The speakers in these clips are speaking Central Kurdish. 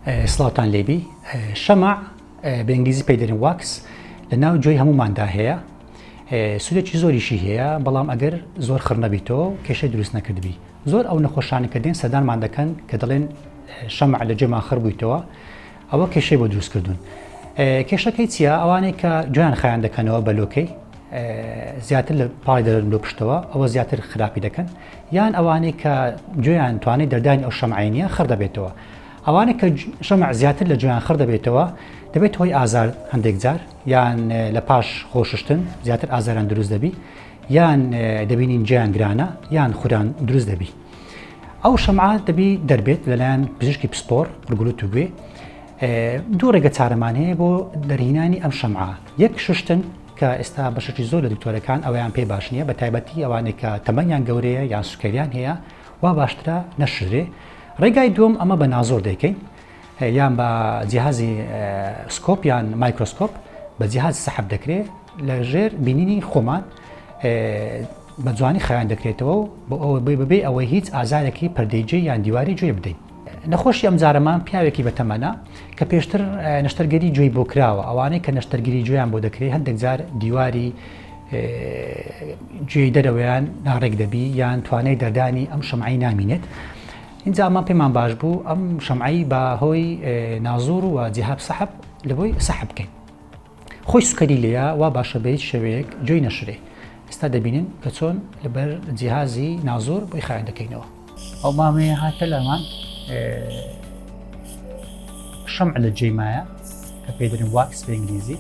سڵاوتان لێبی شەمع بە ئنگلیزی پێی دەرن واکس لە ناو جۆی هەموماندا هەیە سودێکی زۆریشی هەیە بەڵام ئەگەر زۆر خڕنەبیتەوە کێشە دروست نەکردبی زۆر ئەو نەخۆشانە کە دێن سەدانمان دەکەن کە دەڵێن شەمع لە جێمان خڕ بوویتەوە ئەوە کێشەی بۆ دروستکردون کێشەکەی چیە ئەوانەی کە جویان خیان دەکەنەوە بە لۆکەی زیاتر لە پای دەرن لۆ پشتەوە ئەوە زیاتر خراپی دەکەن یان ئەوانەی کە جویان توانێت دەردانی ئەو شەمعینە خڕ دەبێتەوە ئەوانە کە شەمع زیاتر لە جۆیان خڕ دەبێتەوە دەبێت هۆی ئازار هەندێک جار یان لە پاش خۆششتن زیاتر ئازاران دروست دەبی یان دەبینین جیان گرانە یان خوران دروست دەبی ئەو شەمع دەبی دەربێت لەلایەن پزیشکی پسپۆر ڕگولوت و گوێ دوو ڕێگە چارەمان هەیە بۆ دەرهینانی ئەم شەمع یەک شوشتن کە ئێستا بەشێکی زۆر لە دکتۆرەکان ئەویان پێ باش نییە بە تایبەتی ئەوانێکە تەمەنیان گەورەیە یان سوکەریان هەیە وا باشترە نەشرێ ڕێگای دووەم ئەمە بە نازۆر دەیکەین یان بە جیهازی سکۆپ یان مایکرۆسکۆپ بە جیهاز سەحب دەکرێت لە ژێر بینینی خۆمان بە جوانی خیان دەکرێتەوە و بۆ ئەوە بێ بەبێ ئەوەی هیچ ئازارێکی پردێجێ یان دیواری جوێ بدەین نەخۆشی ئەم جارەمان پیاوێکی بەتەمەە کە پێشتر نەشتەرگەری جوێی بۆ کراوە ئەوانەی کە نەشتەرگیری جویان بۆ دەکرێت هەندێک جار دیواری جێی دەرەوەیان ناڕێک دەبی یان توانای دەردانی ئەم شەمعی نامینێت اینجا ئەمان پێمان باش بوو ئەم شەمعی بە هۆی نازور و جیهاب سەحب لەبەوەی سەحب بکەین خۆی سوکەری لێە وا باشە بە هیچ شەوەیەک جۆی نەشرێ ئستا دەبینین کە چۆن لەبەر جیهازی نازور بۆی خیان دەکەینەوە ئەو مامەیە هاتە لامان شەم لە جێ مایە کە پێدرن واکس بە ئینگلیزی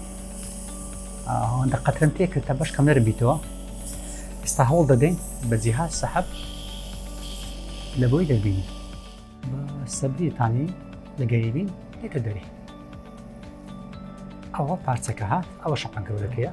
ئەوەندە قەترم تێ کرد تا بەش کەم نەرم بیتەوە ئستا هەوڵ دەدەین بە جیهاز سەحب لە بۆی دەبینی سەبریتانی لە گەریبین دێتە دەری ئەوە پارچەکە هات ئەوە شەقەن گەورەکەیە